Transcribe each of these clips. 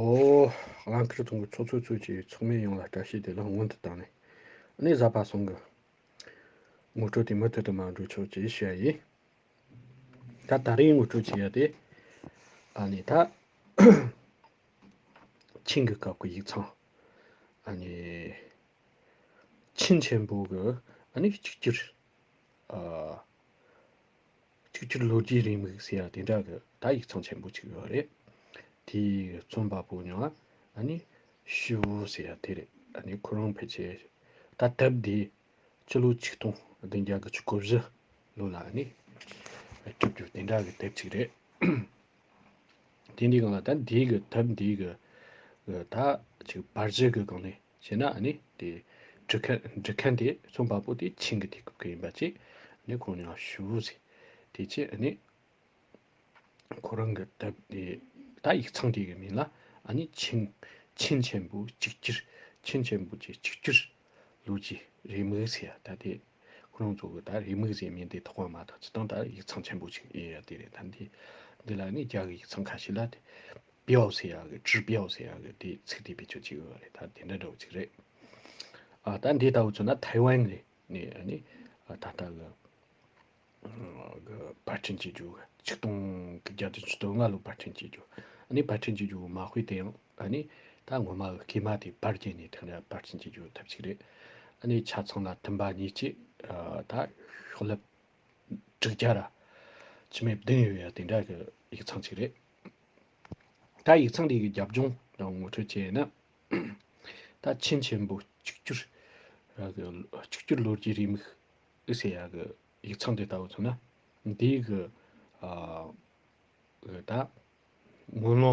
ཨོ། རླངས་འཁོར་ཐོག་གི་ཚོགས་གཙོའི་ཚོས་ཀྱིས་ཚོགས་མི་ཡོངས་ལ་སྐྲ་ཤད་དེ་ལ་སྔོན་དུ་བཏང་ནས། གནས་གཟའ་པ་སོང་གི། ངོ་སྤྲོད་དེ་མུ་མཐུད་དུ་མ་འགྲོ་ཆོག་ཅེས་བཤད་ཡ་ཡིན། ད་ད་རེས་ངོ་སྤྲོད་བྱེད་ཡ་དེ། ཨ་ནི་ད། ཆིང་གི་སྐབས་ཀྱི་ཡིག་ཚང། ཨ་ནི། ཆིན་ཆེན་པོ་གི་ཨ་ནི་གཅིག་གྱུར། ཨ། ཆིག་ཆོད་ལོ་རྒྱུས་རིང་མིག་ཟེར་ཡ་དེ་འདྲ་གི་ད་ཡིག་ཚང་ཆེན་པོ་ཆིག་ཡོད་རེད་དེ་རྩོམ་པ་པོ་ཉུང་ཨ་ནི་ཤི་བོ་ཟེར་ཡ་དེ་རེད་ཨ་ནི་ཁོ་རང་ཕལ་ཆེར་ད་དེབ་དེ་སྤྱི་ལོ་ཆིག་སྟོང་བདུན་བརྒྱ་གི་ཆུ་ཁོ་བཞི་ལོ་ལ་ཨ་ནི་གྲུབ་རྒྱུ་དེ་འདྲ་གི་དེབ་ཆིག་རེད་དེ་འདྲའི་གང་ལ་ད་འདིའི་གི་དེབ་འདིའི་གི་ད་ཆིག་བར་ཆད་གི་གང་ནས། ཞེ་ན་ནི་དེ། འབྲི་ཁན་འབྲི་ཁན་དེ་ཚོ་འབའ་པོ་དེ་ཆིང་གི་དེ་སྐུབ་ཀི་ཡིན་པ་ཅིག་ནི་ཁོང་ནི་ཡང་ཞུ་བོ་ཟེ། དེ་ཅིག་ནི། ཁོ་རང་གི་ད་དེ་ད་ཡིག་ཚང་དེ་གི་མིང་ལ་ནི་ཆིང། ཆིང་ཆེན་པོ་གཅིག་གྱུར་ཆིང་ཆེན་པོ་ཅིག་གཅིག་གྱུར། ལུག་ཅིག་རེ་མིག་ཟེ་ཡ་ད་དེ། ཁོ་རང་ཚོ་གི་ད་རེ་མིག་ཟེ་མིང་དེ་ཐོག་མ་མ་ཐག་ཅི་ཏང་ད་ཡིག་ཚང་ཆེན་པོ་ཅིག་ཡིན་ཡ་དེ་རེད་ད་དེ། འདི་ལ་ནི་རྒྱ་གི་ཡིག་ཚང་ཁ་ཤི་ལ་དེ། པའོ་ཟེར་ཡག་གི་ཀྲི་པའོ་ཟེར་ཡག་གི་དེ་ཚིག་དེ་བེད་སྤྱོད་བྱེད་དགོས་པ་རེད་ད་དེ་འདྲ་འདྲ་བོ་ཅིག་རེད། ཨ་ད་འདི་ལྟ་བུ་བྱུང་ན་ཐའེ་ཝན་རེད་ནས་ཨ་ནི་ད་ལྟ་གི་གི་བར་འཕྲིན་བྱེད་རྒྱུ་ཆིག་སྟོང་གི་བརྒྱ་དོན་ཆིག་སྟོང་ལྔ་ལོ་བར་འཕྲིན་བྱེད་རྒྱུ་ཨ་ནི་བར་འཕྲིན་བྱེད་རྒྱུ་མ་དཔེ་དེ་ཡང་ཨ་ནི་ད་ངོ་མ་གི་སྐད་མ་དེ་བར་བརྒྱན་ནས་དེ་འདྲ་བར་འཕྲིན་བྱེད་རྒྱུ་ཐབས་ཅིག་རེད། ཨ་ནི་ཆ་ཚང་ལ་མཐུན་པ་གཉིས་ཅིག་ད་ཤོག་ལྷེབ་དྲུག་བརྒྱ་ར་ཕྱི་མའི་བདུན་ཡོད་ཡ་དེ་འདྲ་གི་ཡིག་ཚང་ཅིག་རེད། ད་ཡིག་ཚང་རིགས་ཀྱི་རྒྱབ་ལྗོངས་ངོ་སྤྲོད་བྱས་ན། ད་ཆིན་ཆེན་པོ་གཅིག་གྱུར་གཅིག་གྱུར་ལོ་རྒྱུས་རིས་མིག་ཟེར་ཡག་གི་ཡིག་ཚང་དེ་ལྟ་བུ་མཚོན་ན། དེའི་གི་ད་དངུལ་ལོ།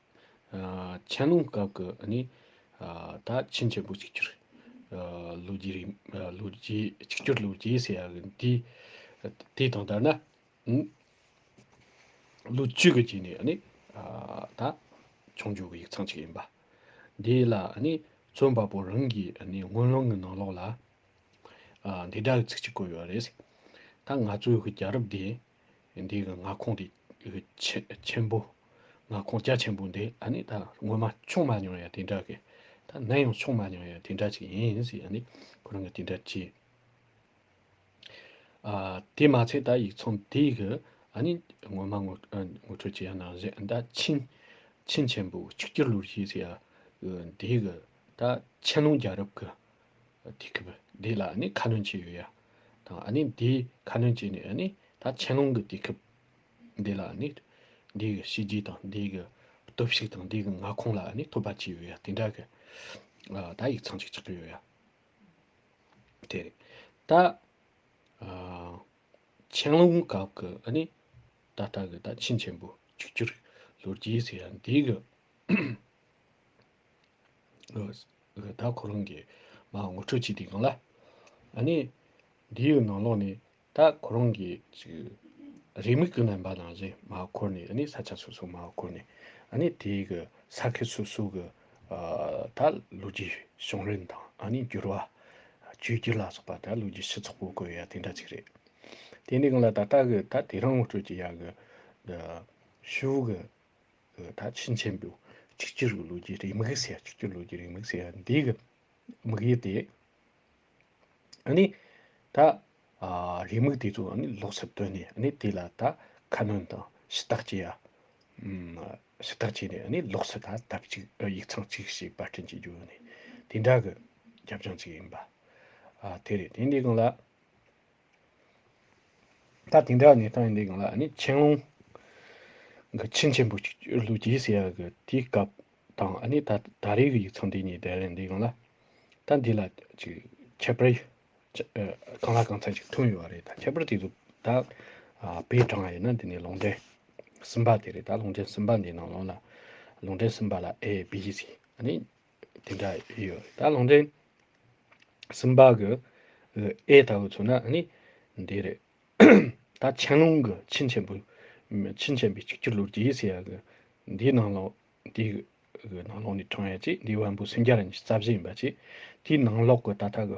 ཆན་ལུང་སྐབས་ཀྱི་ནི་ད་ཆིན་ཆེན་པོ་གཅིག་གྱུར་ལོ་རྒྱུས་རིང་ལོ་རྒྱུས་གཅིག་གྱུར་ལོ་རྒྱུས་ཟེར་ཡ་གི་དེ་དང་ལྟར་ན་ལོ་བཅུ་གི་རྗེས་ནས་ནི་ད་ཆུང་ཆུང་གི་ཡིག་ཚང་གཅིག་ཡིན་པ་དེ་ལ་ནི་རྩོམ་པ་པོ་རང་གི་ནི་དངོས་སློང་གི་ནང་ལོགས་ལ་འདི་དག་གི་ཚིག་གཅིག་བཀོད་ཡོད་རེད། ད་ང་ཚོའི་གི་རྒྱ་རབས་དེ་འདི་གི་མངའ་ཁོངས་དེ་ཆེན་པོ་མངའ་ཁོངས་རྒྱ་ཆེན་པོ་འདི་ཨ་ནི་ད་སྔོན་མ་ཆུང་མ་མྱོང་ཡ་དེ་འདྲ་གི་ད་ནས་ཡང་ཆུང་མ་མྱོང་ཡ་དེ་འདྲ་ཅིག་ཡིན་ཟེར་ཡ་ནི་ཁོ་རང་གི་དེ་འདྲ་གྱིས། ཨ་དེ་མ་ཚད་ད་ཡིག་ཚང་དེ་གི་ཨ་ནི་སྔོན་མ་ངོ་ངོ་འཕྲོད་བྱས་ཡ་ན་གཞན་ད་ཆིན་ཆིན་ཆེན་པོ་ཆིག་བརྒྱ་ལོར་ཞིག་ཟེར་ཡ་དེ་གི་ད་ཆན་ལུང་རྒྱལ་རབས་གི། དེ་གི་བུ་དེ་ལ་ནི་ཁ་ནོན་བྱེད་ཡོད་ཡ། དང་ཨ་ནི་དེ་ཁ་ནོན་བྱེད་ནས་ཨ་ནི་ད་ཆན་ལུང་གི་དེ་གི་བུ་དེ་ལ་ནི། དེ་གི་བྱས་རྗེས་དང་དེ་གི་སྟོབས་ཤུགས་དང་དེ་གི་མངའ་ཁོངས་ལ་ནི་ཐོབ་པ་བྱས་ཡོད་ཡ་དེ་འདྲ་གི། ད་ཡིག་ཚང་གཅིག་ཆགས་ཀྱི་ཡོད་ཡ། དེ་རེད། ད། ཆན་ལུང་སྐབས་གི་ཨ་ནི་ད་ལྟ་གི་ད་ཆིན་ཆེན་པོ་བཅུ་བཅུར་ལོ་རྒྱས་ཟེར་ཡ་དེ་གི། རེ་ད་ཁོ་རང་གིས་ང་ངོ་འཕྲོད་བྱས་དེ་གང་ལ། ཨ་ནི། འདི་ཡོད་ནང་ལོགས་ནས་ད་ཁོ་རང་གིས་ཅིག། རེ་མིག་གི་ནང་པ་ནང་བཞིན་མ་འཁོར་ནས་ཨ་ནི་ས་ཆ་སོ་སོ་མ་འཁོར་ནས། ཨ་ནི་དེ་གི་ས་ཁེ་སོ་སོ་གི། ད་ལོ་རྒྱུས་བྱུང་རིམ་དང་ཨ་ནི་འགྱུར་བ། བཅོས་བསྒྱུར་ལ་སོགས་པ་ད་ལོ་རྒྱུས་ཕྱི་ཚོགས་པོ་གོ་ཡ་དེ་འདྲ་ཅིག་རེད། དེ་ནི་གང་ལ་ད་ལྟ་གི་ད་དེ་རང་ངོ་སྤྲོད་ཀྱི་ཡ་གི། འདི། ཤུགས། ད་ཕྱིན་ཆད་འདུག་གཅིག་གྱུར་གྱི་ལོ་རྒྱུས་རིང་མིག་ཟེར་གཅིག་གྱུར་ལོ་རྒྱུས་རིང་མིག་ཟེར་བ་འདི་གི་དམིགས་ཡུལ་དེ། ཨཱ་ནི། ད་རིང་མིག་དེ་ཚོ་ཨཱ་ནི་ལོགས་སུ་བཏོན་ནས་ཨཱ་ནི་དེ་ལ་ད་ཁ་སྣོན་དང་ཞུ་དག་བྱེད་ཡ། ཞུ་དག་བྱས་ནས་ཨཱ་ནི་ལོགས་སུ་ད་དེབ་ཅིག་ཡིག་ཚང་གཅིག་ཞིག་པར་སྐྲུན་བྱེད་རྒྱུ་ཨཱ་ནི་དེ་འདྲ་གི་རྒྱབ་ལྗོངས་ཅིག་ཡིན་པ། དེ་རེད་དེ་འདི་གང་ལ། ད་དེ་འདྲ་ནས་ད་འདི་གང་ལ་ནི་ཆན་ལུང་གི་ཆིན་ཆེན་པོ་ཅིག་བཅོས་ལུགས་ཀྱིས་ཟེར་ཡ་གི་དེའི་སྐབས་དང་ཨ་ནི་ད་ད་རེས་ཀྱི་ཡིག་ཚང་འདི་གཉིས་བསྡད་ལན་འདི་གང་ལ་ད་འདི་ལ་ཅིག་ཁྱད་པར་གང་ལ་གང་འཚམ་ཅིག་ཐོན་ཡོད་པ་རེད་ད་ཁྱད་པར་དེ་ཚོ་ད་བེད་དྲངས་ཡོད་ན་འདི་ནས་ལུང་འདྲེན་སུམ་པ་དེ་རེད་ད་ལུང་འདྲེན་སུམ་པ་འདི་ནང་ལོང་ལ་ལུང་འདྲེན་སུམ་པ་ལ་ཨེ་བི་ཞིག་ཨ་ནི་དེ་འདྲ་ཡོད་ད་ལོང་དེ་སིམ་པ་གི་ཨེ་ལྟ་བུ་ཚོ་ན་ནི་འདི་རེད་ད་ཆན་ལུང་གི་ཆིན་ཆེན་པོ་ཆིན་ཆེན་པོ་གཅིག་གྱུར་ལོ་རྒྱུས་ཟེར་ཡག་གི་འདིའི་ནང་ལོ་འདི་གི་ནང་ལོགས་ནས་དྲངས་ཡོད་ཅིག་འདི་བན་པོ་སུན་རྒྱ་རིན་གྱི་རྩ་བཞི་ཡིན་པ་ཅིག་དེའི་ནང་ལོགས་གི་ད་ལྟ་གི་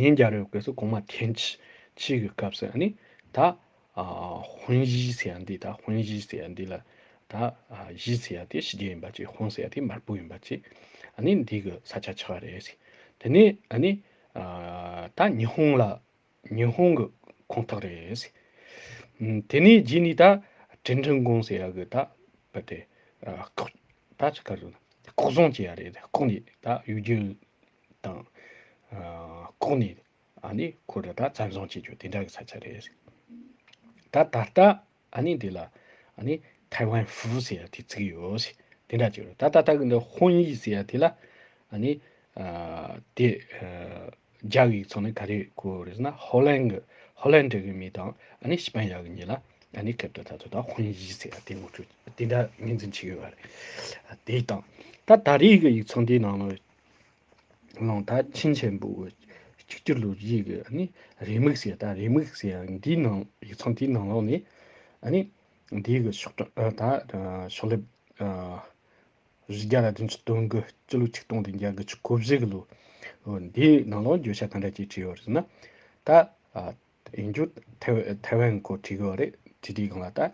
ཉིན་བརྒྱ་རེའི་སྐབས་སུ་གོང་མ་ཐེངས་གཅིག་གི་སྐབས་སུ་ནི་ད་ཧོན་བཞི་ཟེར་ཡ་འདི་ད་ཧོན་བཞི་ཟེར་ཡ་འདི་ལ་ད་བཞི་ཟེར་ཡ་དེ་ཞི་རྒྱས་ཡིན་པ་ཅིག་ཧོན་ཟེར་ཡ་དེ་དམར་པོ་ཡིན་པ་ཅིག་ནི་འདི་གི་ས་ཆ་ཆགས་རེད། དེ་ནས་ནི་ད་ཉི་ཧོང་ལ། ཉི་ཧོང་གི་ཁོངས་གཏོགས་རེད། དེ་ནས་རྗེས་ནས་ད་ཀྲིན་ཀྲིན་ཀོང་ཟེར་ཡ་གི་ད་བུད་དེ། ལྐོག་ད་ཅི་ཁ་རུ། ལྐོག་བཟང་བྱས་ཡ་རེད་དེ་ལྐོག་ནས་ད་གཡུ་རྒྱུན། དང། ལྐོག་ནས་ཨ་ནི་ཁོ་རུ་ད་བཙན་བཟང་བྱེད་རྒྱུ་དེ་འདྲ་གི་ས་ཆ་རེད། ད་ད་ལྟ། ཨ་ནི་འདི་ལ་ཨ་ནི་ཐའི་ཝན་ཧྥུའུ་ཟེར་ཡ་དེ་བརྩི་གི་ཡོད། དེ་འདྲ་བྱས་རོགས། ད་ལྟ་ད་གི་འདི་ཧོན་ཡིག་ཟེར་ཡ་དེ་ལ་ཨ་ནི་དེ་རྒྱག་ཡིག་ཚང་ནི་ག་རེ་གོ་རེད་ཟེར་ན་ཧོ་ལན་གི་ཧོ་ལན་འདྲ་གི་མི་དང་ཨ་ནི་ཤི་པན་ཡ་གི་མྱི་ལ་ཨ་ནི་གབ་ཏུ་ད་ཚོད་ད་ཧོན་ཡིག་ཟེར་ཡ་དེ་ངོ་སྤྲོད་དེ་འདྲ་ངེས་འཛིན་བྱེད་གི་ཡོད་རེད། དེ་དང། ད་ད་རེས་གི་ཡིག་ཚང་དེའི་ནང་ལོ། ལོང་ད་ཆིན་ཆེན་པོ་བོད་གཅིག་གྱུར་ལོ་རྒྱུས་ཀྱི་ནི་རེ་དམིགས་བྱས་ད་རེ་དམིགས་བྱས་འདིའི་ནང་ཡིག་ཚང་དེའི་ནང་ལོགས་ནས་ནི་འདིའི་གི་ཕྱོགས་གྲངས་ད་ཕྱོགས་ལེབ་རི་རྒྱ་ལ་དུན་ཆུ་སྟོན་གི་སྤྱི་ལོ་ཆིག་སྟོང་དང་བརྒྱད་གི་ཆུ་འཁོར་བཞི་གི་ལོ་འདིའི་ནང་ལོགས་འགྱོད་བཤད་ག་འདྲ་བྱས་བྲིས་ཡོད་རེད་ན་ད་ཡིན་རྒྱུ་ཐའེ་ཝན་གོ་ཐི་གོ་རེད་དེ་དེའི་གང་ལ་ད་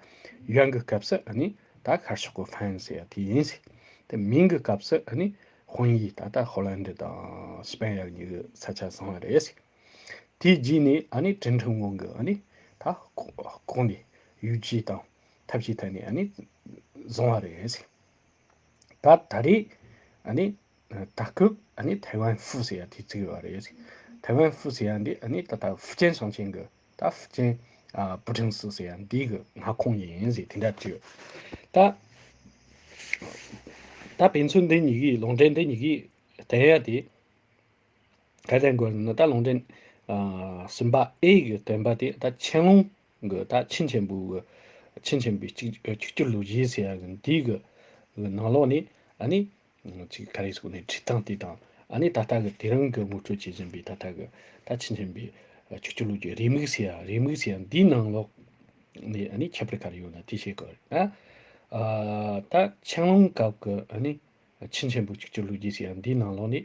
ཡོན་གི་སྐབས་སུ་ཨ་ནི་ད་ཤར་ཕྱོགས་གོ་ཕན་ཟེར་ཡ་དེ་ཡིན་སྲིད་དེ་མིང་གི་སྐབས་སུ་ཨ་ནི་དཔོན་ཡིག་ད་ད་ཧོ་ལན་དི་དང་སི་པན་ཡར་གཉིས་གི་ས་ཆ་བཟང་བ་རེད་སྲིད་དེའི་རྗེས་ནས་ཨ་ནི་ཀྲིན་ཁྲིན་ཝང་གི་ཨ་ནི་ད་ལྐོག་ནས་ཡུལ་སྤྱི་དང་ཐབས་ཅིག་ཐད་ནས་ཨ་ནི་བཟང་བ་རེད་སྲིད་ད་ད་རེས་ཨ་ནི། ད་སྐབས་ཨ་ནི་ཐའེ་ཝན་ཧྥུའུ་ཟེར་ཡ་དེ་བརྩི་གི་བ་རེད། ཐའེ་ཝན་ཧྥུའུ་ཟེར་ཡ་འདི་ཨ་ནི་ད་ལྟ་ཧྥུ་ཅན་ཞང་ཆེན་གི་ད་ཧྥུ་ཅན་པུ་ཀྲང་སི་ཟེར་ཡ་འདི་གི་མངའ་ཁོངས་ཡིན་ཟེར་དེ་འདྲ་བརྗོད། ད་ད་ཕན་ཚུན་འདི་གཉིས་ཀྱི་ལུང་འདྲེན་འདི་གཉིས་ཀྱི་དྲན་ཡ་དེ་ག་དྲན་དགོས་ཟེར་ན་ད་ལུང་འདྲེན་སིམ་པ་ཨེ་གི་དྲན་པ་དེ་ད་ཆན་ལུང་གི་ད་ཆིན་ཆེན་པུའུ་གི་ཆིན་ཆེན་པུའི་གཅིག་གྱུར་ལུགས་གཞི་ཟེར་ཡ་གི་འདི་གི་ནང་ལོགས་ནས་ཨ་ནི་གཅིག་ད་རེས་སོང་ནས་བྲིས་སྟངས་བལྟས་སྟངས་ཨ་ནི་ད་ལྟ་གི་དེ་རིང་གི་དངུལ་སྤྲོད་བྱེད་བཞིན་པའི་ད་ལྟ་གི་ད་ཕྱིན་བཞིན་པའི་ཆུ་སྐྱུར་ལུགས་ཀྱི་རེའུ་མིག་ཟེར་ཡ་རེའུ་མིག་ཟེར་ཡ་འདིའི་ནང་ལོགས་ནས་ཨ་ནི་ཁྱད་པར་ག་རེ་ཡོད་ན་དེ་བཤད་དགོས་རེད་ན། ད་ཆང་ལོང་སྐབས་ཀྱི་ཨ་ནི་ཆིན་ཆེན་པོ་ཆུ་སྐྱུར་ལུགས་ཀྱི་ཟེར་ཡ་འདིའི་ནང་ལོགས་ནས།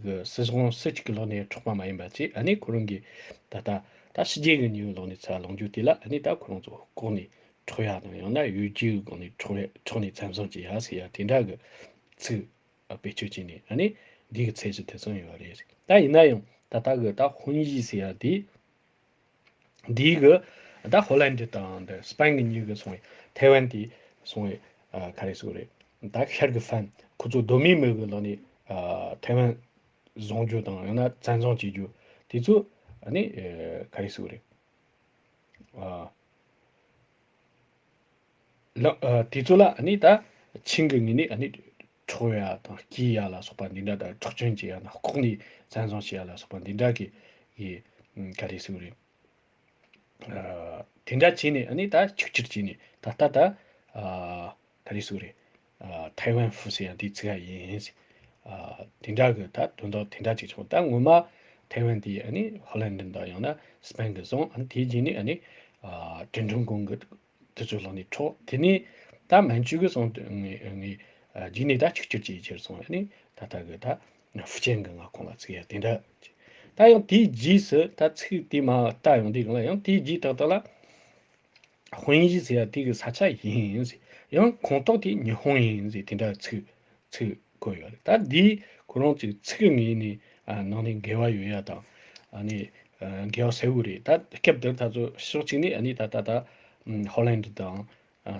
གི་སྲིད་དབང་སྲིད་གཅིག་གི་ལོགས་ནས་འཕྲོག་པ་མ་ཡིན་པ་བཅས་ཨ་ནི་ཁོ་རང་གི་ད་ལྟ་ད་ཕྱི་རྒྱལ་གི་ནི་ཡོའི་ལོགས་ནས་ཚ་ལོངས་རྒྱུ་དེ་ལ་ཨ་ནི་ད་ཁོ་རང་ཚོ་ལྐོག་ནས་འཕྲོག་ཡག་དང་ཡང་ན་ཡོའི་རྒྱའི་སྒོ་ནས་འཕྲོག་བས་འཕྲོག་ནས་ཚམ་བཟང་བྱེད་ཡག་ཟེར་ཡག་དེ་འདྲ་གི་ཚིག་བེད་སྤྱོད་བྱས་ནས་ཨ་ནི་འདི་གི་ཚད་གཞི་དེ་ཚང་ཡོད་རེད་ད་ཡིན་ན་ཡང་ད་ལྟ་གི་ད་ཧོན་ཡིག་ཟེར་ཡག་དེ། འདིའི་གི་ཟླ་ཧོ་ལན་འདི་དང་འདི་སྤེན་གི་གཉིས་གི་སོང་བས་ཐའེ་ཝན་དེ་སོང་བས་ག་རེ་སུ་རེད་ད་ཤར་གི་ཧྥན་ཁོ་ཚོ་གདོད་མའི་མི་གི་ལོ་ནས་ཐའེ་ཝན་བཟུང་རྒྱུ་དང་ཡང་ན་བཙན་བཟུང་བྱེད་རྒྱུ་དེ་ཚོ་ནི་ག་རེ་སུ་རེད་ལ་དེ་ཚོ་ལ་ནི་ད་ཆིང་གི་ངི་ནི་ཁྲོ་ཡ་དང་སྐྱི་ཡ་ལ་སོགས་པ་འདི་འདྲ་དང་ཁྲག་གྱོན་གྱི་ཡ་ན་ལྐོག་ནས་བཙན་བཟུང་བྱས་ཡ་ལ་སོགས་པ་འདི་འདྲ་གི་ཡི་ག་རེ་ཟུག་རེད། དེ་འདྲ་བྱས་ནས་ནི་ད་ཆིག་ཆིར་བྱས་ནས་ད་ལྟ་ད་ག་རེ་ཟུག་རེད། ཐའེ་ཝན་ཧྥུ་སི་ཡ་འདི་ཚིག་ག་ཡིན། དེ་འདྲ་གི་ད་དོན་དག་དེ་འདྲ་ཅིག་བྱུང་ད་ངོ་མ་ཐའེ་ཝན་འདི་ནི་ཧོ་ལན་དྲིན་དང་ཡང་ན་སྤེན་གི་བཟུང་དེ་རྗེས་ནས་ནི་ཀྲིན་ཀྲུང་གུང་གི་དེ་ཚོའི་ལག་ནས་འཕྲོག་དེ་ནས་ད་མན་ཇུས་གི་སོང་དུ་ངས་ངས་རྒྱུགས་ནས་ད་ཆིག་ཆོད་ཅིག་ཅེར་སོང་ནས་ད་ལྟ་གི་ད་ཧྥུ་ཅན་གི་ང་ཁོང་ལ་ཚིག་ཡ་དེ་འདྲ་ད་ཡང་དེའི་རྗེས་སུ་ད་ཚིག་དེ་མ་ད་ཡང་དེ་གང་ལ་ཡང་དེའི་རྗེས་ད་ལྟ་ལ་ཧོན་ཡིས་ཟེར་ཡ་དེ་གི་ས་ཆ་ཡིན་ཟེར་ཡང་ཁོང་ཏོག་དེ་ཉི་ཧོང་ཡིན་ཟེར་དེ་འདྲ་ཚིག་ཚིག་བཀོད་ཡོད་རེད་ད་འདིའི་ཁོ་རང་ཚོའི་ཚིག་ངའི་ནི་ནང་ནས་འགལ་བ་ཡོད་ཡ་དང་ནི་འགལ་བ་ཟེར་བུ་རེད་ད་སྐབས་འདིར་ད་ཚོ་ཕྱོགས་གཅིག་ནི་ནི་ད་ད་ད་ཧོ་ལན་དུ་དང་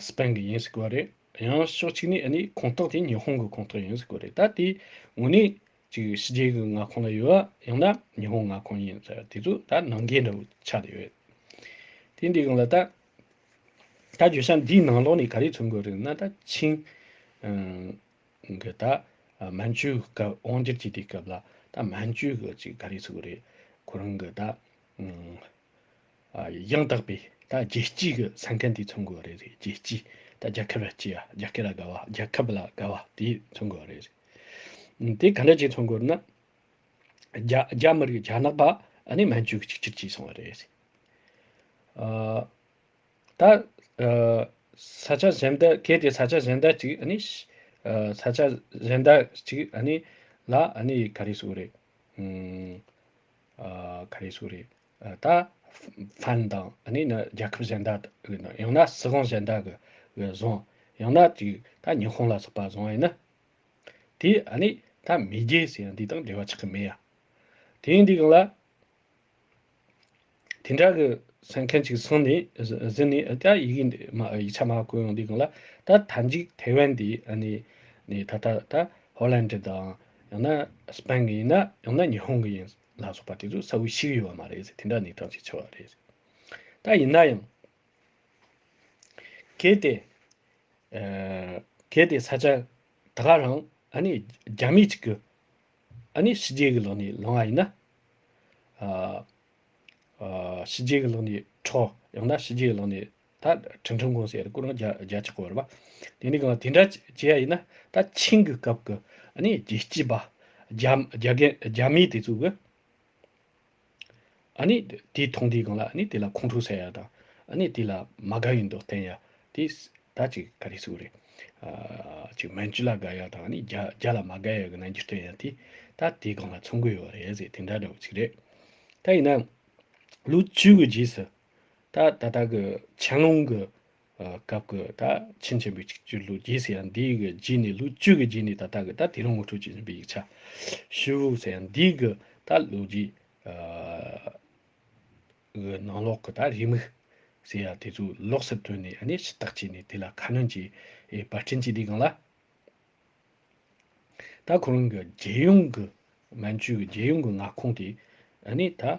སི་པན་གྱི་ཡིན་ཟེར་གོ་རེད་ཡང་ཕྱོགས་གཅིག་ནི་ནི་ཁོངས་གཏོགས་དེ་ཉི་ཧོང་གི་ཁོངས་གཏོགས་ཡིན་ཟེར་གོ་རེད་ད་དེ་ངོ་ནི་ཅིག་ཕྱི་རྒྱལ་གྱི་མངའ་ཁོངས་ལ་ཡོད་ཡ་ཡང་ན་ཉི་ཧོང་མངའ་ཁོངས་ཡིན་ཟེར་དེ་ཚོ་ད་ནང་འགལ་འདྲ་བོ་ཆགས་ཡོད་དེ་འདི་གང་ལ་ད། ད་བརྗོད་བྱ་འདིའི་ནང་ལོགས་ནས་ག་རེ་ཚུར་འགོད་རིགས་ན་ད་ཆིང། གི་ད་མན་ཇུའི་སྐབས་དབང་སྒྱུར་གྱི་དེ་སྐབས་ལ་ད་མན་ཇུའི་གི་ཅིག་ག་རེ་ཚུར་འགོད་རེད། ཁོ་རང་གི་ད། ཡང་དག་པའི་ད་རྒྱལ་སྤྱིའི་གི་ས་མཁན་དེ་ཚུར་འགོད་རེད་རེད་རྒྱལ་སྤྱིའི་ད་རྒྱལ་ཁབ་ལ་སྤྱི་ཡ་རྒྱལ་ཁབ་ལ་དགའ་བ་རྒྱལ་ཁབ་ལ་དགའ་བ་དེ་ཚུར་འགོད་རེད་རེད། དེ་ག་འདྲ་ཅིག་ཚུར་འགོད་ན། རྒྱ་རྒྱ་མི་རིགས་རྒྱ་ནག་པ་ཨ་ནི་མན་ཇུའི་གི་ཅིག་ཅིག་ཅིག་སོང་བ་རེད་རེད། ད་ས་ཆ་གཞན་དུ་གལ་ཏེ་ས་ཆ་གཞན་དུ་ཅིག་ཨ་ནི་ས་ཆ་གཞན་དུ་ཅིག་ཨ་ནི་ལ་ཨ་ནི་ག་རེ་སུ་རེད་ག་རེ་སུ་རེད་ད་ཕན་དང་ཨ་ནི་ནི་རྒྱལ་ཁབ་གཞན་དུ་ཡང་ན་སྲིད་དབང་གཞན་དུ་གི་བཟུང་ཡང་ན་ཅིག་ད་ཉི་ཧོང་ལ་སོགས་པ་བཟུང་ཡིན་ན་དེ་ཨ་ནི་ད་མེས་རྒྱལ་ཟེར་ཡང་དེ་དང་འབྲེལ་བ་ཆགས་ཀྱི་མེད་ཡ་དེ་འདི་གང་ལ། དེ་འདྲ་གི་སེམས་མཁན་གཅིག་ཚང་ནི་གཟིགས་ནི་ད་ཡི་གེ་འདི་མ་ཡིག་ཆ་མ་བཀོད་ཡོང་འདི་གང་ལ་ད་ད་འཇིག་ཐའེ་ཝན་འདི་ཨ་ནི་ནི་ད་ད་ད་ཧོ་ལན་འདྲི་དང་ཡང་ན་སི་པན་གི་ཡིན་ན་ཡང་ན་ཉི་ཧོང་གི་ཡིན་ལ་སོགས་པ་དེ་ཚོ་ས་བོའི་ཕྱི་གི་ཡོད་པ་མ་རེད་དེ་འདྲ་ནི་གྲངས་ཅིག་ཆེ་བ་རེད་ད་ཡིན་ན་ཡང། གལ་ཏེ་གལ་ཏེ་ས་ཆ་ད་ག་རང་ཨ་ནི་རྒྱ་མི་གཅིག་གི། ཨ་ནི་ཞི་རྒྱས་ཀྱི་ལོ་ནི་ལོང་ཨ་ཡིན། ཨ་ཞི་རྒྱས་ཀྱི་ལོ་ནི་ཁྲོ། ཡང་ན་ཞི་རྒྱས་ཀྱི་ལོ་ནི་ད་ཁྲིམས་ཁྲིམས་གོང་སའི་སྐུ་རང་རྒྱ་རྒྱ་ཆེ་བར་བ། དེ་ནི་གང་དེ་འདྲ་བྱེད་ཨ་ཡིན། ད་ཆིང་གི་སྐབས་ཀྱི་ཨ་ནི་རྒྱལ་སྤྱི་བ། རྒྱ་རྒྱ་རྒྱ་མི་དེ་ཚོ་གི། ཨཱ་ནི། དེས་མཐོང་དེའི་སྒང་ལ་ཨཱ་ནི་དེ་ལ་ཁོང་ཁྲོ་ཟ་ཡ་དང། ཨཱ་ནི་དེ་ལ་མ་དགའ་ཡི་མདོག་བསྟན་ཡ། དེས་ད་ཅིག་ག་རེ་ཟེར་བ་རེད། ཨཱ་ཅིག་མན་ཇི་ལ་དགའ་ཡ་དང་ཨཱ་ནི་རྒྱ་རྒྱ་ལ་མ་དགའ་ཡ་གི་རྣམ་འགྱུར་བསྟན་ཡ་དེས་ད་དེའི་སྒང་ལ་ཚོང་དགོས་ཡོད་རེད་ཟེར་དེ་འདྲ་འདྲ་བོ་ཚིག་རེད། ད་ཡིན་ན། ལོ་བཅུ་གི་རྗེས་སུ། ད་ད་ལྟ་གི་ཆན་ལུང་གི། བཀའ་བསྒོས་ད་ཕྱིན་ཆེན་པོའི་ཆིག་བརྒྱུད་ལུགས་རྒྱས་ཟེར་ཡང་འདིའི་གི་རྗེས་ནས་ལུགས་བཅུ་གི་རྗེས་ནས་ད་ལྟ་གི་ད་དེ་རིང་ངོ་སྤྲོད་བྱེད་བཞིན་པའི་ཡིག་ཆ། ཤི་བོ་ཟེར་ཡང་འདིའི་གི་ད་ལུགས་རྗེས་གི་ནང་ལོགས་གི་ད་རེའི་མིག་ཟེར་ཡང་དེ་ཚོ་ལོགས་སུ་དོན་ནས་ནི་ཕྱི་བརྟག་བྱས་ནས་དེ་ལ་ཁ་སྣོན་གྱིས་པར་སྐྲན་གྱི་དེ་གང་ལ། ད་ཁོ་རང་གི་རྒྱལ་ཡོངས་གི་མན་ཇུའི་གི་རྒྱལ་ཡོངས་གི་མངའ་ཁོངས་དེ་ནི་ད།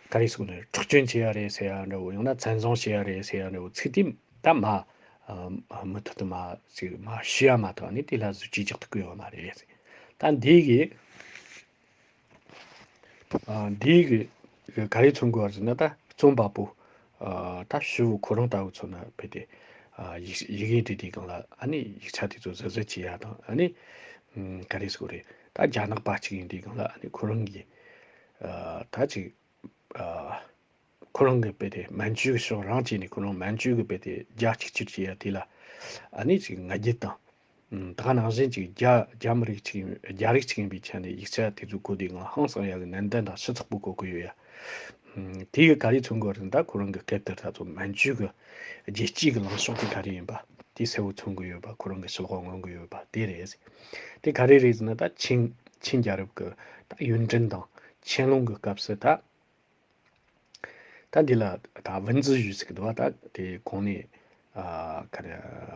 ག་རེ་གསུངས་ནས་འཁྲུག་སྐྱོན་བྱས་ཡ་རེད་ཟེར་ཡ་འདྲ་བོ་ཡང་ན་བཙན་བཟུང་བྱས་ཡ་རེད་ཟེར་ཡ་འདྲ་བོ་ཚིག་དེ་ད་མ་མུ་མཐུད་དུ་མ་ཚིག་མ་ཤི་ཡ་མ་ཐག་ནས་དེ་ལ་གཟུ་བྱིས་རྒྱག་ཏུ་བསྐུལ་ཡོང་བ་རེད། ད་འདིའི་གི་འདིའི་གི་ག་རེ་མཚོན་དགོས་བར་ཟེར་ན་ད་རྩོམ་པ་པོ་ད་ཞི་བུ་ཁོ་རང་ལྟ་བུ་ཚོ་ན་ཕེབས་ཏེ་ཡི་གེ་དེ་དེ་གང་ལ་ཨ་ནི་ཡིག་ཆ་དེ་ཚོ་གཟབ་གཟབ་བྱས་ཡ་དང་ཨ་ནི་ག་རེ་གསུངས་རེད་ད་རྒྱ་ནག་པ་གཅིག་ཡིན་དེ་གང་ལ་ཨ་ནི་ཁོ་རང་གི་ད་ཅིག། ཁོ་རང་གི་དཔེ་དེ་མན་ཇུའི་གི་ཤོག་རང་བྱས་ནས་ཁོ་རང་མན་ཇུའི་གི་དཔེ་དེ་རྒྱ་གཅིག་ཕྱིར་བྱས་ཡ་དེ་ལ། ཨ་ནི་ཅིག་ང་རྒྱལ་དང། ད་ག་ནང་བཞིན་ཅིག་རྒྱ་རྒྱ་མི་རིགས་ཅིག་རྒྱ་རིགས་ཅིག་ཡིན་པའི་ཆ་ནས་ཡིག་ཆ་དེ་ཚོ་གོ་དུས་ང་ཧང་སང་ཡ་གི་ནན་ཏན་དང་ཤི་ཚག་པོ་གོ་གི་ཡོད་ཡ། དེ་གི་ག་རེ་མཚོན་དགོས་རེད་ད་ཁོ་རང་གི་སྐད་དེར་ད་ཚོ་མན་ཇུའི་གི་རྒྱལ་སྤྱིའི་གི་ལངས་ཕྱོགས་དེ་ག་རེ་ཡིན་པ་དེ་གསལ་བོ་མཚོན་གི་ཡོད་པ་ཁོ་རང་གི་ཤི་ལོག་ངོ་གི་ཡོད་པ་དེ་རེད། དེ་ག་རེ་རེད་ཟེར་ན་ད་ཆིང་ཆིང་རྒྱལ་རབས་ཀྱི་ད་ཡོན་ཏན་དང་ཆན་ལུང་གི་སྐབས་སུ་ད། ད་འདི་ལ་ད་བིན་ཛི་ཞུས་ཟེར་གི་འདུག་བ་ད་དེ་གོང་ནས་ཨ་ཁ་རེ་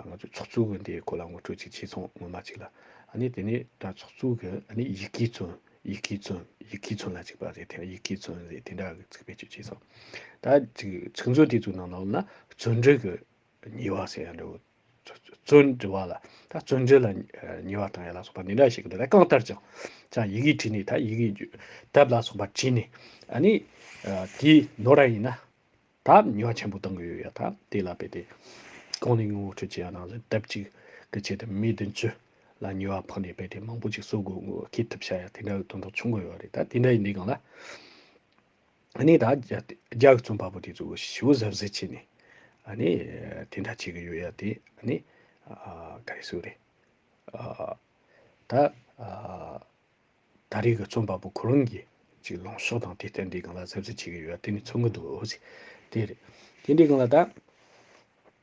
ང་ཚོས་ཚོགས་གཙོ་གི་འདི་གོ་ལ་ངོ་སྤྲོད་ཅིག་བྱས་སོང་ངོ་མ་ཅིག་ལ་ཨ་ནི་དེ་ནས་ད་ཚོགས་གཙོ་གི་ཨ་ནི་ཡི་གེ་ཚོན་ཡི་གེ་ཚོན་ཡི་གེ་ཚོན་ལ་ཅིག་པ་རེད་དེ་ཡི་གེ་ཚོན་རེད་དེ་འདྲ་གི་ཚིག་བེད་སྤྱོད་བྱས་སོང་ད་ཅིག་ཚིག་མཛོད་དེ་ཚོའི་ནང་ལ་ཨོ་ན་ཚོན་སྒྲིག་གི་ཉེ་བ་ཟེར་ཡང་འགྲོ། བརྩོན་འགྲུས་བ་ལ། ད་བརྩོན་འགྲུས་ལ་ཉེ་བ་དང་ཡན་ལག་སོགས་པ་འདི་འདྲ་ཞིག་གི་འདིར་གང་ལྟར་ཀྱང། ཅང་ཡི་གེ་བྲིས་ནས་ད་ཡི་གེ། དབ་ལ་སོགས་པ་བྲིས་ནས། ཨ་ནི། དེའི་ནོར་ར་ཡིན་ན། ད་ཉེ་བ་ཆེན་པོ་གཏང་གི་ཡོད་ཡ་ད་དེ་ལ་བས་ཏེ། གང་ནས་ངོ་བོ་ཁྲུས་བྱས་ཡ་ནང་ཟིན་དབབ་ཅིག་གི་ཆེད་དུ་མི་བདུན་བཅུ། ལ་ཉེ་བ་ཕོག་ནས་བས་ཏེ་མང་པོ་ཅིག་གསོ་དགོས་ངོ་ཁེ་ཐུབ་བྱ་ཡ་དེ་འདྲ་བའི་དོན་དག་བྱུང་གི་ཡོད་རེད་ད་དེ་འདྲ་ཡི་འདི་གང་ལ། ནས་ད་རྒྱ་གི་རྩོམ་པ་པོ་དེ་ཚོ་ཞི་བོ་གཟབ་གཟབ་བྱས་ནས་ནས་དེ་འདྲ་བྱེད་ཀྱི་ཡོད་ཡ་དེ་ནས་ག་རེ་སུ་རེད་ད་ད་རེས་ཀྱི་རྩོམ་པ་པོ་ཁོ་རང་གིས་ཅིག་ལོངས་ཕྱོགས་དང་དེ་ལྟར་འདི་གང་ལ་གཟབ་གཟབ་བྱེད་ཀྱི་ཡོད་ཡ་དེ་ནས་ཚོར་གྱི་འདུག་དེ་རེད་དེ་འདྲའི་གང་ལ་ད།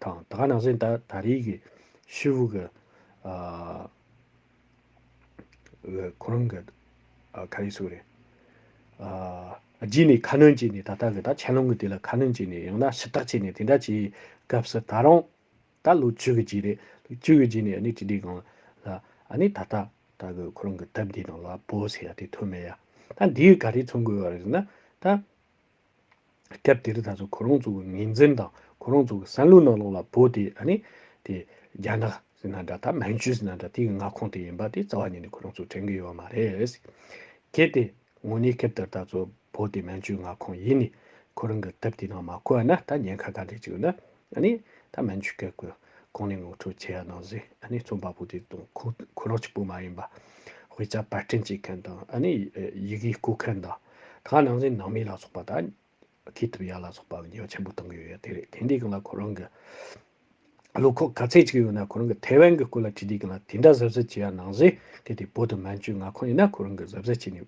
དང་ད་ག་ནང་སེང་ད་ད་རེས་ཀྱི་ཤི་བོ་གི་ཁོ་རང་གི་ག་རེ་སུ་རེད་རྗེས་ནས་ཁ་སྣོན་བྱས་ནས་ད་ལྟ་གི་ད་ཆན་ལོང་གི་དེ་ལ་ཁ་སྣོན་བྱས་ནས་ཡང་ན་ཞིབ་བཏགས་བྱས་ནས་དེ་འདྲ་བྱས་སྐབས་སུ་ད་རུང་ད་ལོ་བཅུ་གི་རྗེས་རེད་ལོ་བཅུ་གི་རྗེས་ནས་ཨ་ནི་ཅི་འདྲའི་གང་ལ་ཨ་ནི་ད་ལྟ་ད་གི་ཁོ་རང་གི་ཐབས་འདི་དང་ལ་བོ་ཟེར་ཡ་དེ་ཐོན་མེད་ཡ་ད་འདིའི་ག་རེ་མཚོན་དགོས་པ་རེད་ཟེར་ན་ད། སྐབས་དེར་ད་གཟོད་ཁོ་རང་ཚོའི་ངོས་འཛིན་དང་ཁོ་རང་ཚོའི་བསམ་བློའི་ནང་ལོགས་ལ་བོད་དེ་ཨ་ནི། དེ་རྒྱ་ནག་ཟེར་ན་འདྲ་ད་མན་ཇུ་ཟེར་ན་འདྲ་དེའི་མངའ་ཁོངས་དེ་ཡིན་པ་དེ་རྩ་བ་ཉིད་ནས་ཁོ་རང་ཚོས་དྲན་གྱི་ཡོད་མ་རེད། གལ་ཏེ་ངོས་ནས་སྐབས་དེར་ད་གཟོད་བོད་དེ་མན་ཇུའི་མངའ་ཁོངས་ཡིན་ནས་ཁོ་རང་གི་སྟབས་དེའི་ནང་མ་བཀོད་ན་ད་ཉེན་ཁ་ག་འདྲས་ཅིག་ཡོད་ན། ཨ་ནི། ད་མན་ཆུ་ཁའི་གོས་གོང་ནས་ངོ་འཕྲོད་བྱས་ཡ་ནང་ཟིག་ཨ་ནི་རྩོམ་པ་པོ་དེ་དང་ཁོ་ཁོ་རང་གཅིག་པོ་མ་ཡིན་པ། དབུས་རྩ་བར་སྐྲན་བཅད་མཁན་དང་ཨ་ནི་ཡི་གེ་རྐུ་མཁན་དང། ད་ནང་ཟིག་ནང་མི་ལ་སོགས་པ་དང། ཁེ་ཐུབ་ཡ་ལ་སོགས་པ་ཉེས་པ་ཆེན་པོ་བཏང་གི་ཡོད་དེ་རེད་དེ་འདྲའི་གང་ལ་ཁོ་རང་གི། བློ་ཁོག་ག་ཚད་ཅིག་ཡོད་ན་ཁོ་རང་གི་ཐའེ་ཝན་གི་སྐོར་ལ་བྲིས་དེ་གང་ལ་དེ་འདྲ་གཟབ་གཟབ་བྱས་ཡ་ནང་ཟིག་གལ་ཏེ་བོད་དུ་མན་ཆུ་ང་ཁོ་ཡིན་ན་ཁོ་རང་གི་གཟབ་གཟབ་བྱས་ནས།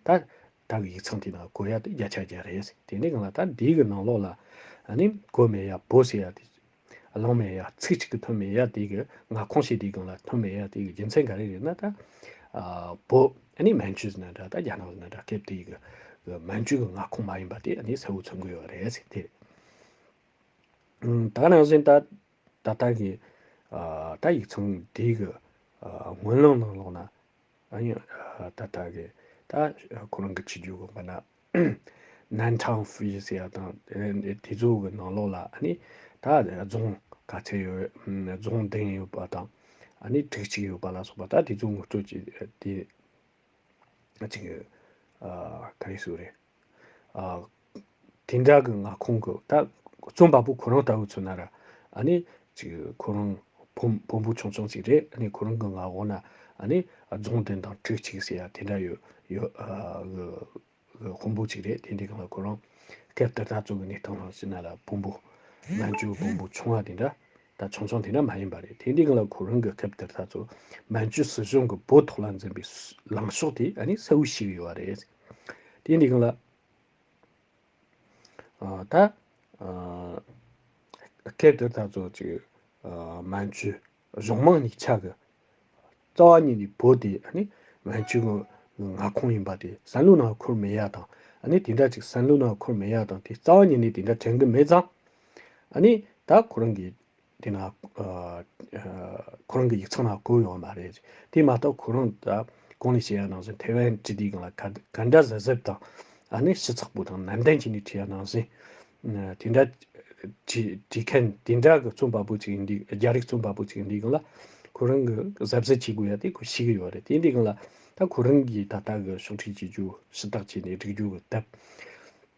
ད། བདག་གི་ཡིག་ཚང་དེ་ན་སྒོ་ཡ་དེ་བརྒྱ་ཆ་བརྒྱ་རེད་ཟེར་དེ་ནས་གང་ལ་ད་འདི་གི་ནང་ལོགས་ལ་ཨཱ་ནི་སྒོ་མེད་ཡ་སྦོ་ཟེར་ཡ་དེ་གླང་མེད་ཡ་ཚིག་གཅིག་གི་ཐོན་མེད་ཡ་དེ་གི་ང་ཁོང་ཤེས་དེ་གང་ལ་ཐོན་མེད་ཡ་དེ་གི་རྒྱུ་མཚན་ག་རེ་རེད་ན་ད་སྦོ་ཨཱ་ནི་མན་ཇུ་ཟེར་ན་འདྲ་ད་རྒྱ་ནག་ཟེར་ན་འདྲ་སྐད་དེ་གི་མན་ཇུ་གི་ང་ཁོང་མ་ཡིན་པ་དེ་ཨཱ་ནི་གསལ་བོ་མཚོན་དགོས་ཡོད་རེད་ཟེར་དེ་ད་ནང་བཞིན་ད་ད་ལྟ་གི་ད་ཡིག་ཚང་འདི་གི་སྔོན་ལམ་ནང་ལོགས་ན་ཨ་ཡང་ད་ལྟ་གི་ད་ཁོ་རང་གི་ཆི་རྒྱུ་གོ་པ་ན་ནན་ཁྲང་ཧྥུའུ་ཡི་སི་ཡ་དང་དེ་ཚོ་གི་ནང་ལོགས་ལ་ཨ་ནི་ད་རྫོང་ག་ཚད་ཡོད་རྫོང་བདུན་ཡོད་པ་དང་ཨ་ནི་དྲུག་ཅིག་ཡོད་པ་ལ་སོགས་པ་ད་དེ་ཚོ་ངོ་སྤྲོད་ཀྱི་དེ་ཨ་ཅིག་ཨ་ཁ་རེ་སུ་རེད། དེ་འདྲ་གི་ང་ཁོང་གི་ད་རྩོམ་པ་པོ་ཁོ་རང་ལྟ་བུ་ཚོ་ན་ར་ཨ་ནི་ཅིག་ཁོ་རང་བུ་བུ་འབུ་ཆུང་ཆུང་ཅིག་རེད་ཨ་ནི་ཁོ་རང་གི་ང་གོ་ན་ཨ་ནི་རྫོང་དེ་དང་ཁྲི་ཅིག་ཟེར་ཡ་དེ་འདྲ་ཡོད་ཡོད་གི་ཁོང་བུ་ཅིག་རེད་དེ་འདྲའི་གི་ང་ཁོ་རང་སྐབས་དེ་ད་གཙོ་གི་གནས་སྟངས་རང་བཞིན་ན་ལ་བུ་འབུ་ང་ཅུང་བུ་འབུ་ཆུང་བ་དེ་འདྲ་ད་ཆུང་ཆུང་དེ་འདྲ་མ་ཡིན་པ་རེད་དེ་འདྲའི་གི་ལ་ཁོ་རང་གི་སྐབས་དེར་ད་གཙོ་མན་ཇུ་སྲིད་གཞུང་གི་བོད་ཐོག་ལ་འཛིན་པའི་ལངས་ཕྱོགས་དེ་ཨ་ནི་གསལ་བོ་ཞིག་ཡོད་རེད། དེ་འདི་གང་ལ། ད། སྐད་དེར་ད་གཟོད་ཅིག། མན་ཇུ་གཞུང་དམངས་ནི་ཆགས། རྩ་བ་ཉིད་ནི་བོད་དེ་ནི། མན་ཇུའི་ངག་ཁོངས་ཡིན་པ་དེ་སན་ལུ་ན་ཁུར་མེ་ཡག་དང། ནི་དེ་འདྲ་ཅིག་སན་ལུ་ན་ཁུར་མེ་ཡག་དང་དེ་རྩ་བ་ཉིད་ནི་དེ་འདྲ་དྲན་གི་མེད་ཙང། ནི་ད་ཁོ་རང་གི། དེ་ན་ཁོ་རང་གི་ཡིག་ཚང་ལ་བསྐུར་ཡོང་བ་མ་རེད། དེ་མ་གཏོགས་ཁོ་རང་ད་གང་ནས་བྱས་ཡ་ནང་བཞིན་ཐེ་ཝན་སྤྱི་བདེའི་སྒང་ལ་ག་ག་འདྲ་གཟབ་གཟབ་དང། ཨ་ནི་ཤི་ཚགས་པོ་དང་ནན་ཏན་བྱས་ནས་བྲིས་ཡ་ནང་བཞིན། དེ་འདྲ་བྲིས་མཁན་དེ་འདྲ་གི་རྩོམ་པ་པོ་ཅིག་ཡིན་དུས་རྒྱ་རིགས་རྩོམ་པ་པོ་ཅིག་ཡིན་དུས་སྒང་ལ་ཁོ་རང་གི་གཟབ་གཟབ་བྱེད་དགོས་ཡ་དེ་ཁོ་ཤེས་ཀྱི་ཡོད་རེད་དེ་འདྲའི་སྒང་ལ་ད་ཁོ་རང་གིས་ད་ལྟ་གི་ཕྱོགས་ཁྲིད་བྱེད་རྒྱུ་ཤི་སྟག་བྱས་ནས་བསྒྲིགས་རྒྱུ་གི་སྟབས།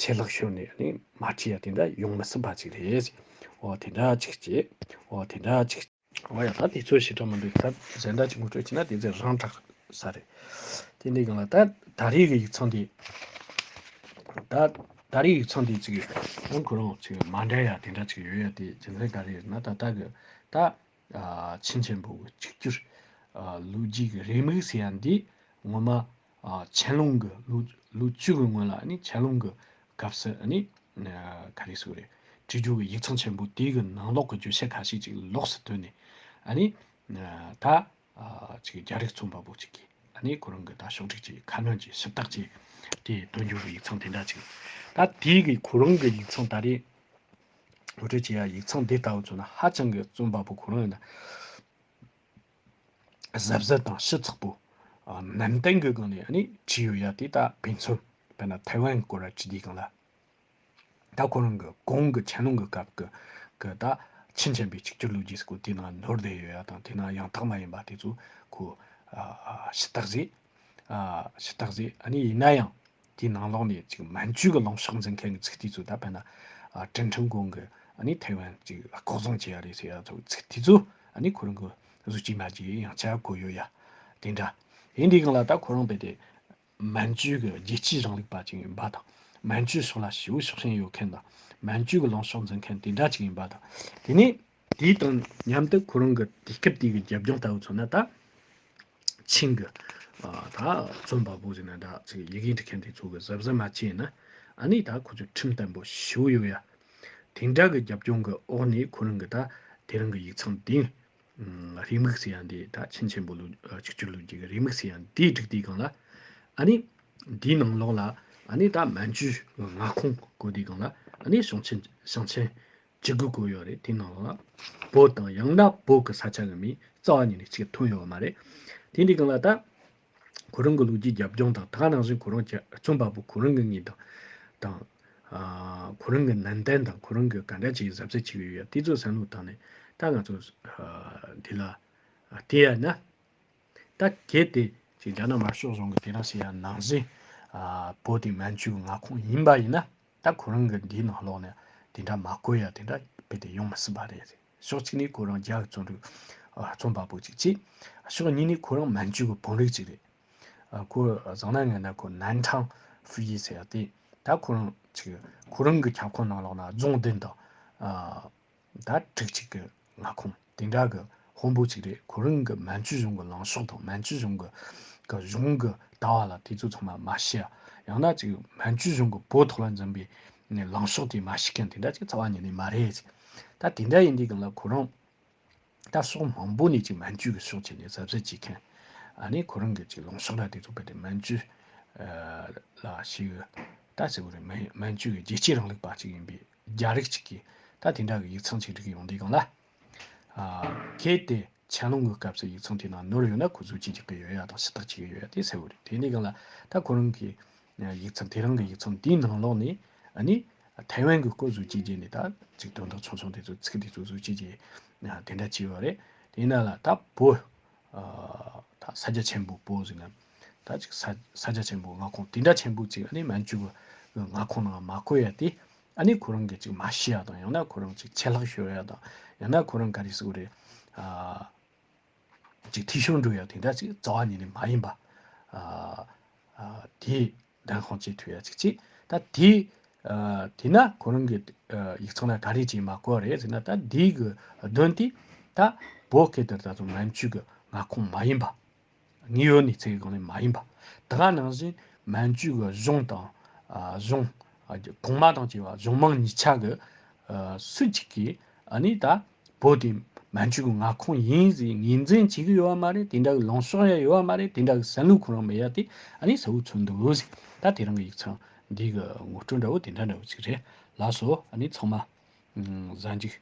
ཆད་ལྷག་ཤོར་ནས་ནི་མ་བྲིས་ཡ་དེ་འདྲ་ཡོང་མི་སྲིད་པ་ཅིག་རེད། འོ་དེ་འདྲ་ཅིག་བྱེད། འོ་དེ་འདྲ་ཅིག། འོ་ཡ་ད་དེ་ཚོའི་བྱེད་གྲབས་མི་འདུག་ད་གཞན་འདྲ་ཅིག་ངོ་སྤྲོད་བྱས་ན་དེ་ཚོས་རང་དྲག་ས་རེད། དེ་འདྲའི་སྒང་ལ་ད་ད་རེས་ཀྱི་ཡིག་ཚང་འདི། ད་ད་རེས་ཡིག་ཚང་འདི་ཅིག་ཡང་ཁོ་རང་ཅིག་མ་འདྲ་ཡ་དེ་འདྲ་ཅིག་ཡོད་ཡ་དེ་རྒྱུ་མཚན་ག་རེ་ཡོད་ན་ད་ད་གི་ད། ཕྱིན་ཆད་འབོད་དགོས་གཅིག་གྱུར་ལུས་རྒྱུད་ཀྱི་རེའུ་མིག་ཟེར་ཡ་འདི་ངོ་མ་ཆན་ལུང་གི་ལུགས་བཅུ་གི་སྔོན་ལ་ཆན་ལུང་གི་སྐབས་སུ་ག་རེ་སུ་རེད་བྲིས་རྒྱུ་གི་ཡིག་ཚང་ཆེན་པོ་དེ་གི་ནང་ལོག་གི་བརྗོད་བྱ་ཁ་ཤས་ཅིག་ལོགས་སུ་བཏོན་ནས་ད་རྒྱ་རིགས་རྩོམ་པ་པོ་ཅིག་གིས་ཁོ་རང་གི་ད་ཕྱོགས་སྒྲིག་ཀྱི་ཁ་སྣོན་གྱི་ཞིབ་བཏགས་ཀྱི་དེ་བཏོན་རྒྱུ་གི་ཡིག་ཚང་དེ་འདྲ་ཅིག་ད་དེ་གི་ཁོ་རང་གི་ཡིག་ཚང་ད་རེས་ངོ་སྤྲོད་བྱེད་ཡག་ཡིག་ཚང་འདི་ལྟ་བུ་བཙོན་ན་ཧ་ཅང་གི་བཙོན་པ་པོ་གོ་རང་ཡིན་ན། གཟབ་གཟབ་དང་ཞིབ་ཚགས་པོ། ནན་ཏན་གི་སྒང་ནས་ནི་བྱེད་ཡོད་ཡ་དེ་ད་ཕན་ཚུན་དཔེར་ན་ཐའེ་ཝན་སྐོར་ར་བྱེད་དུས་གང་ལ། ད་ཁོ་རང་གི་གོང་གི་ཆན་ལུང་གི་སྐབས་ཀྱི་གི་ད་ཆིན་ཆེན་པའི་གཅིག་གྱུར་ལུགས་རྒྱས་སྐོར་དེ་ནང་ནོར་བསྡད་ཡོད་ཡ་དང་དེ་ནང་ཡང་དག་མ་ཡིན་པ་དེ་ཚོ་ཁོ། ཤི་རྟགས་ཟེ། ཤི་རྟགས་ཟེ་ཨ་ནི་ཡིན་ན་ཡང། དེའི་ནང་ལོགས་ནས་ཅིག་མན་ཇུའི་གི་ལངས་ཕྱོགས་འཛིན་མཁན་གི་ཚིག་དེ་ཚོ་ད་བལ་ན་ཀྲིན་ཁྲིན་གོང་གི་ཨནི་ཐའི་ཝན་ཅིག་ལྐོག་བཟང་བྱས་ཡ་རེད་ཟེར་ཡ་ཚོ་ཚིག་དེ་ཚོ་ཨནི་ཁོ་རང་གི་གཟུ་བྱས་མ་བྱས་ཡང་ཆ་གོ་ཡོད་ཡ། དེ་འདྲ། ཡིན་དེ་གང་ལ་ད་ཁོ་རང་བལ་ཏེ་མན་ཇུའི་གི་རྒྱལ་སྤྱིའི་རང་ལུགས་པ་ཅིག་ཡིན་པ་དང་མན་ཇུའི་སོགས་ལ་ཞི་བོ་ཕྱོགས་ཞེན་ཡོད་མཁན་དང་མན་ཇུའི་གི་ལངས་ཕྱོགས་འཛིན་མཁན་དེ་འདྲ་ཅིག་ཡིན་པ་དང་དེ་ནས། དེའི་དང་མཉམ་དུ་ཁོ་རང་གི་དུས་སྐབས་དེ་གའི་རྒྱབ་ལྗོངས་ལྟ་བུ་མཚོན་ན་ད་ཕྱིན་གྱི་ད་རྩོམ་པ་པོ་ཟེར་ན་ད་ཚེ་ཡི་གེ་འབྲི་མཁན་དེ་ཚོ་གི་གཟབ་གཟབ་མ་བྱས་ན་ཨ་ནི་ད་ཁོ་ཚོས་ཁྲིམས་བརྟན་པོ་ཞུ་ཡོད་ཡ། དེ་འདྲ་གི་རྒྱབ་ལྗོངས་གི་འོག་ནས་ཁོ་རང་གི་ད་དེ་རང་གི་ཡིག་ཚང་དེ་རེའི་དམིགས་བསལ་ཡང་དེ་ད་ཆེན་ཆེན་པོ་ལོ་ཆིག་བཅུ་ལོ་བརྒྱད་གི་རེའི་དམིགས་བསལ་ཡང་དེ་བསྒྲིགས་དེ་གང་ལ་ཨ་ནི་དེའི་ནང་ལོགས་ལ་ཨ་ནི་ད་མན་ཇུའི་མངའ་ཁོངས་བཀོད་དེ་གང་ལ་ཨ་ནི་ཞིང་ཆེན་ཞིང་ཆེན་ཅི་དགོས་དགོས་ཡོད་རེད་དེ་ནང་ལ་བོད་དང་ཡང་ན་བོད་ཀྱི་ས་ཆ་གི་མིའི་རྩ་བ་ཉིད་ནས་གཅིག་མཐུན་ཡོད་མ་རེད། དེ་འདི་གང་ལ་ལྟ། ཁོ་རང་གི་ལུགས་ཀྱི་རྒྱབ་ལྗོངས་དང་ད་ནང་བཞིན་ཁོ་རང་གྱི་རྩོམ་པ་པོ་ཁོ་རང་གི་ངེས་དང། དང། ཁོ་རང་གི་ནན་ཏན་དང་ཁོ་རང་གི་ག་འདྲ་ཅིག་གཟབ་གཟབ་ཅིག་ཡོད་ཡ་དེ་ཚོ་བསམ་བློ་བཏང་ནས་ད་ང་ཚོ་འདི་ལ་བལྟས་ཡ་ན། ད་གལ་ཏེ་ཅིག་རྒྱ་ནག་དམར་ཤོག་གཞུང་གི་དེ་རང་ཞིག་ཡ་ནང་བཞིན་བོད་དེ་མན་ཇུའི་མངའ་ཁོངས་ཡིན་པ་ཡིན་ན། ད་ཁོ་རང་གི་འདིའི་ནང་ལོག་ནས་དེ་འདྲ་མ་གོ་ཡ་དེ་འདྲ་རྦད་དེ་ཡོང་མི་སྲིད་པ་རེད། ཕྱོགས་གཅིག་ནས་ཁོ་རང་རྒྱ་གི་རྩོམ་རིག་རྩོམ་པ་པོ་ཅིག་གཅིག། ཕྱོགས་གཉིས་ནས་ཁོ་རང་མན་ཇུ་གི་བོན་རིགས་ཅིག་རེད། ཁོ་བཟང་ན་ངན་ན་ཁོ་ནན་ཁྲང་ཧྥུ་ཡི་ཟེར་ཡ་དེ། ད་ཁོ་རང་ཅིག་ཁོ་རང་གི་ཁྱབ་ཁོངས་ནང་ལོག་ན་རྫོང་བདུན་དང། ཟླ་དྲུག་ཅིག་གི་མངའ་ཁོངས་དེ་འདྲ་གི་དཔོན་པོ་ཅིག་རེད་ཁོ་རང་གི་མན་ཇུ་གཞུང་གི་ལངས་ཕྱོགས་དང་མན་ཇུ་གཞུང་གི་གི་གཞུང་གི་ལྟ་བ་ལ་དེ་ཚོ་ཚང་མ་མ་ཤི་ཡ་ཡང་ན་ཅིག་མན་ཇུ་གཞུང་གི་བོད་ཐོག་ལ་འཛིན་པའི་ལངས་ཕྱོགས་དེ་མ་ཤི་མཁན་དེ་འདྲ་ཅིག་རྩ་བ་ཉིད་ནས་མ་རེད་ཅིག་ད་དེ་འདྲ་ཡིན་དུས་གི་ལ་ཁོ་རང་ད་ཕྱོགས་མང་པོ་ནས་ཅིག་མན་ཇུ་གི་ཕྱོགས་ཆེད་ནས་ཟབ་ཟོབ་བྱེད་མཁན་ཨ་ནི་ཁོ་རང་གི་ཅིག་ལངས་ཕྱོགས་ར་དེ་ཚོ་བལ་ཏེ་མན་ཇུ་ལ་ཤི་གི་ད་ཟེར་བ་རེད་མན་ཇུ་གི་རྒྱལ་གཅེས་རིང་ལུགས་པ་ཅིག་ཡིན་པའི་རྒྱ་རིགས་གཅིག་གིས་ད་དེ་འདྲ་བའི་ཡིག་ཚང་ཆིག་སྒྲིག་ཡོང་དུས་གང་ལ། གལ་ཏེ་ཆན་ལུང་ངུའི་སྐབས་སུ་ཡིག་ཚང་དེའི་ནང་ནོར་ཡོད་ན་ཁོ་ཚོས་ཅི་བྱེད་ཀྱི་ཡོད་ཡ་དང་ཤི་རྟགས་བྱེད་ཀྱི་ཡོད་ཡ་དེ་གསལ་བོ་རེད་དེ་ནས་གང་ལ་ད་ཁོ་རང་གིས་ཡིག་ཚང་དེ་རང་གི་ཡིག་ཚང་དེའི་ནང་ལོགས་ནས་ནི་ཐའེ་ཝན་གྱི་སྐོར་བཟོ་བྱེད་རྗེས་ནས་ད་ཅིག་དོན་དག་ཆུང་ཆུང་དེ་ཚོ་ཚིག་དེ་ཚོ་བཟོ་བྱེད་རྗེས་དེ་འདྲ་བྱས་པ་རེད་དེ་ཡིན་ན་ལ་ད་བོད། ད་ས་རྒྱ་ཆེན་པོ་པོ་ཟིག་ན་ད་ཅིག་ས་ས་རྒྱ་ཆེན་པོ་ང་ཁོང་དེ་འདྲ་ཆེན་པོ་ཅིག་ཨ་ནི་མན་ཇུ་བ་ང་ཁོང་ནང་མ་བསྐོས་ཡ་དེ་ཨ་ནི་ཁོ་རང་གིས་ཅིག་མ་ཤི་ཡ་དང་ཡང་ན་ཁོ་རང་ཅིག་ཆད་ལྷག་ཤོར་ཡ་དང་ཡང་ན་ཁོ་རང་ག་རེ་སུ་རེ་ཨ་ཅིག་ཐིག་ཤོར་འགྲོ་ཡ་དེ་འདྲ་ཅིག་རྩ་བ་ཉིད་ནས་མ་ཡིན་པ་ཨ་ཨ་དེ་བདག་ཁོང་ཅིག་ཐོས་ཡ་ཅིག་ཅིག་ད་དེ། དེས་ན་ཁོ་རང་གི་ཡིག་ཚང་ལ་ག་རེ་བྱས་མ་གོ་རེད་ཟེར་ན་ད་དེའི་གི་དོན་དེ། ད་བོད་སྐད་དེར་ད་དུང་མན་ཇུ་གི་མངའ་ཁོངས་མ་ཡིན་པ། དངོས་ཡོད་གནས་ཚད་གང་ལེགས་མ་ཡིན་པ། དེ་ག་ནང་བཞིན་མན་ཇུ་གི་གཞུང་དང། གཞུང། གོང་མ་དང་བཅས་པ་གཞུང་མང་གཉིས་ཆ་གི། སུ་གཅིག་གིས་ཨ་ནི་ད། བོད་དེ་མན་ཇུའི་མངའ་ཁོངས་ཡིན་ཟེར་ངེས་འཛིན་བྱེད་ཀྱི་ཡོད་བ་མ་རེད་དེ་འདྲ་གི་ལངས་ཕྱོགས་ཡང་ཡོད་བ་མ་རེད་དེ་འདྲ་གི་བསམ་བློ་ཁོ་རང་མེད་ཡ་དེ་ཨ་ནི་ཟ་བུ་ཚོད་འདུག་ཟེར་ད་དེ་རང་གི་ཡིག་ཚང་འདི་གི་ངོ་སྤྲོད་འདྲ་བོ་དེ་འདྲ་འདྲ་བོ་ཅིག་རེད་ལགས་སོ་ཨ་ནི་ཚང་མ་གཟའ་འཇིགས་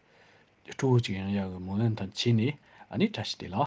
སྤྲུལ་བོ་ཅིག་ཡང་ཡག་གི་མོ་ལན་དང་བྱས་ནས་ཨ་ནི་བཀྲ་ཤིས་བདེ་ལགས།